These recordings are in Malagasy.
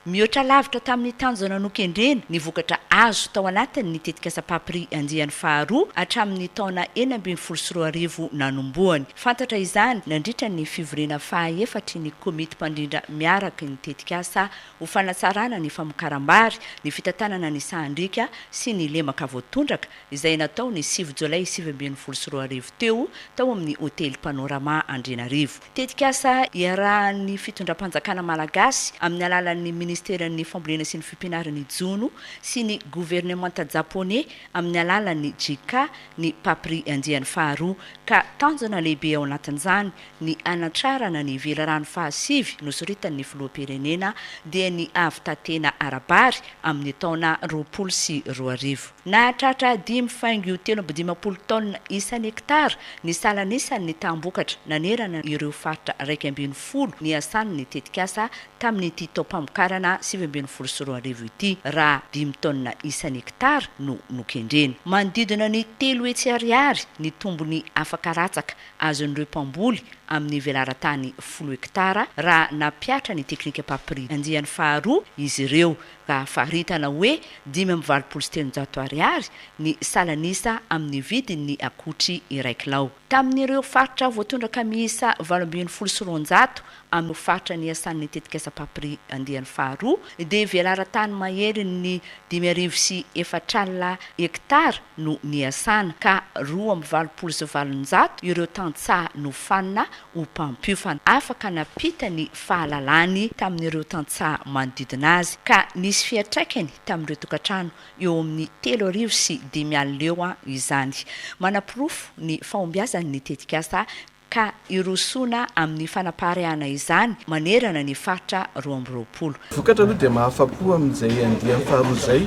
Mihoatra lavitra tamin'ny tanjona nokendrena ny vokatra azo tao anatin'ny tetikasa Papri andiany faharoa hatramin'ny taona enina ambin'ny folo sy roa arivo nanombohany. Fantatra izany nandritra ny fivoriana fahaefatry ny Komity Mpandrindra Miaraky ny Tetikasa ho fanatsarana ny famokaram-bary, ny fitantanana ny sahan-driaka sy ny lemaka voatondraka izay natao ny sivy Jolay sivy ambin'ny folo sy roa arivo teo tao amin'ny Hotely Panorama Andrianarivo. Tetikasa iarahan'ny fitondram-panjakana malagasy amin'ny alalan'ny ministeran'ny Fambolena sy ny Fipianaran' ny Jono sy ny governemanta japoney amin'ny alalan'ny JICA ny Papri andiany faharoa ka tanjona lehibe ao anatin'izany ny hanatrarana ny velirano fahasivy nosoritan'ny filoham-pirenena dia ny hahavitantena ara-bary amin'ny taona roapolo sy roa arivo. Nahatratra dimy faingo telo amby dimampolo taonina isan'ny hektara ny salan'isan' ny taham-bokatra nanerana ireo faritra iraika ambin'ny folo niasan' ny tetikasa tamin'ity taom-pamokarana sivy ambin'ny folo sy roa arivo ity, raha dimy taonina isan'ny hektara no nokendrena. Manodidina ny telo hetsy ariary ny tombony afaka ratsaka azon'ireo mpamboly amin'ny velaran-tany folo hektara raha nampihatra ny teknika Papri andiany faharoa izy ireo, ka faritana hoe dimy amby valopolo sy telonjato ariary ny salan'isa amin'ny vidin'ny akotry iray kilao. Tamin'ireo faritra voatondraka miisa valo ambin'ny folo sy roanjato amin'ny faritra niasan'ny tetikasa Papri andiany faharoa dia velaran-tany maherin'ny dimy arivo sy efatralina hektara no niasana ka roa amby valopolo sy valonjato ireo tantsaha nofanina ho mpampiofana. Afaka nampita ny fahalalany tamin'ireo tantsaha manodidina azy ka nisy fiantraikany tamin'ireo tokantrano eo amin'ny telo arivo sy dimy alina eo izany. Manaporofo ny fahombiazan'ny tetikasa ka hirosoana amin'ny fanapaharehana izany manerana ny faritra roa amby roapolo. Vokatra aloha dia mahafa-po amin'izay andiany faharoa izay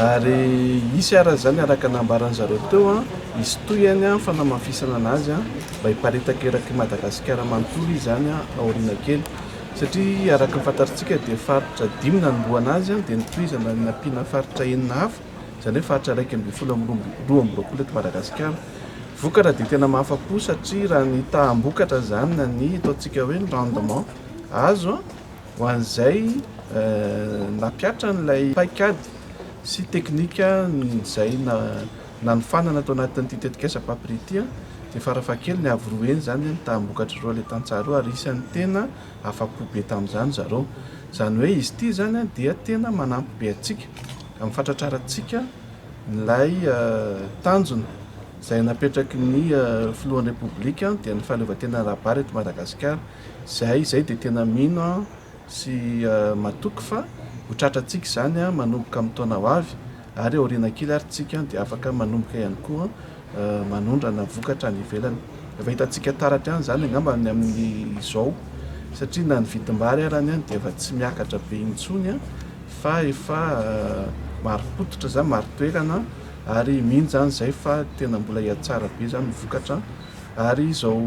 ary hisy araka izany araka ny nambaran'ny zareo teo hisy tohiny ny fanamafisana an'azy mba hiparitaka eraky Madagasikara manontolo izy izany aoriana kely satria araka ny fantarintsika dia faritra dimy nanombohana azy dia notohizana nampiana faritra enina hafa. izany hoe faritra iraika ambin'ny folo amby roa amby roapolo eto Madagasikara. Vokatra dia tena mahafa-po satria raha ny taham-bokatra izany na ny ataontsika hoe ny rendement azo ho an'izay nampiatra an'ilay paikady sy teknika izay nanofanana tao anatin'ity tetikasa Papri ity dia farafahakeliny avo roa heny izany ny taham-bokatr'ireo ilay tantsaha ireo ary isan'ny tena afa-po be tamin'izany zareo. Izany hoe izy ity izany dia tena manampy be antsika. amin'ny fahatratrarantsika ilay tanjona izay napetraky ny filohan'ny Repoblika dia ny fahaleovantenan'ny Rabary eto Madagasikara izay izay dia tena mino sy matoky fa ho tratrantsika izany manomboka amin'ny taona ho avy ary aoriana kely ary tsika dia afaka manomboka ihany koa manondrana vokatra any ivelany. Efa hitantsika taratra ihany izany angamba ny amin'izao satria na ny vidim-bary arany any dia efa tsy miakatra be intsony fa efa marim-pototra izany, marin-toerana ary mino izany izay fa tena mbola hihatsara be izany ny vokatra ary izao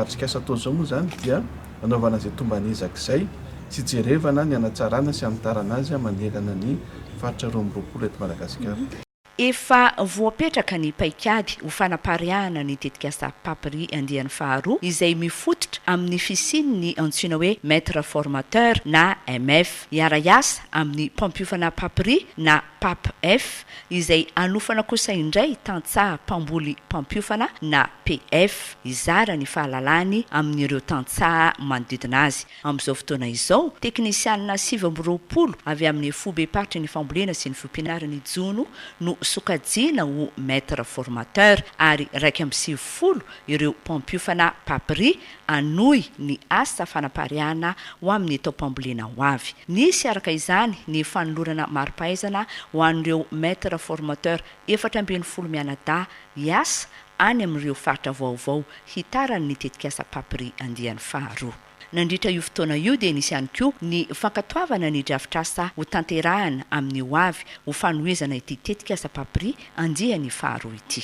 atrikasa atao izao moa izany dia anaovana izay tomban'ezaka izay sy hijerevana ny hanatsarana sy hanitarana azy manerana ny faritra roa amby roapolo eto Madagasikara. Efa voapetraka ny paikady ho fanapariahana ny tetikasa Papri andiany faharoa izay mifototra amin'ny fisian'ny antsoina hoe Maitre Formateur na MF. Hiara-hiasa amin'ny mpampiofana Papri na PAPF izay hanofana kosa indray tantsaha mpamboly mpampiofana na PF hizara ny fahalalany amin'ireo tantsaha manodidina azy. Amin'izao fotoana izao, teknisianina sivy amby roapolo avy amin'ny Foibem-paritry ny Fambolena sy ny Fiompianaran' i Jono no sokajiana ho Maître Formateur ary iraika amby sivifolo ireo mpampiofana, Papri, hanohy ny asa fanapariahana ho amin'ny taom-pambolena ho avy. Nisy araka izany ny fanolorana mari-pahaizana ho an'ireo Maître Formateur efatra ambin'ny folo mianadahy hiasa any amin'ireo faritra vaovao hitarany ny tetikasa Papri andiany faharoa. Nandritra io fotoana io dia nisy ihany koa ny fankatoavana ny drafitrasa hotanterahana amin'ny ho avy ho fanohizana ity tetikasa Papri andiany faharoa ity.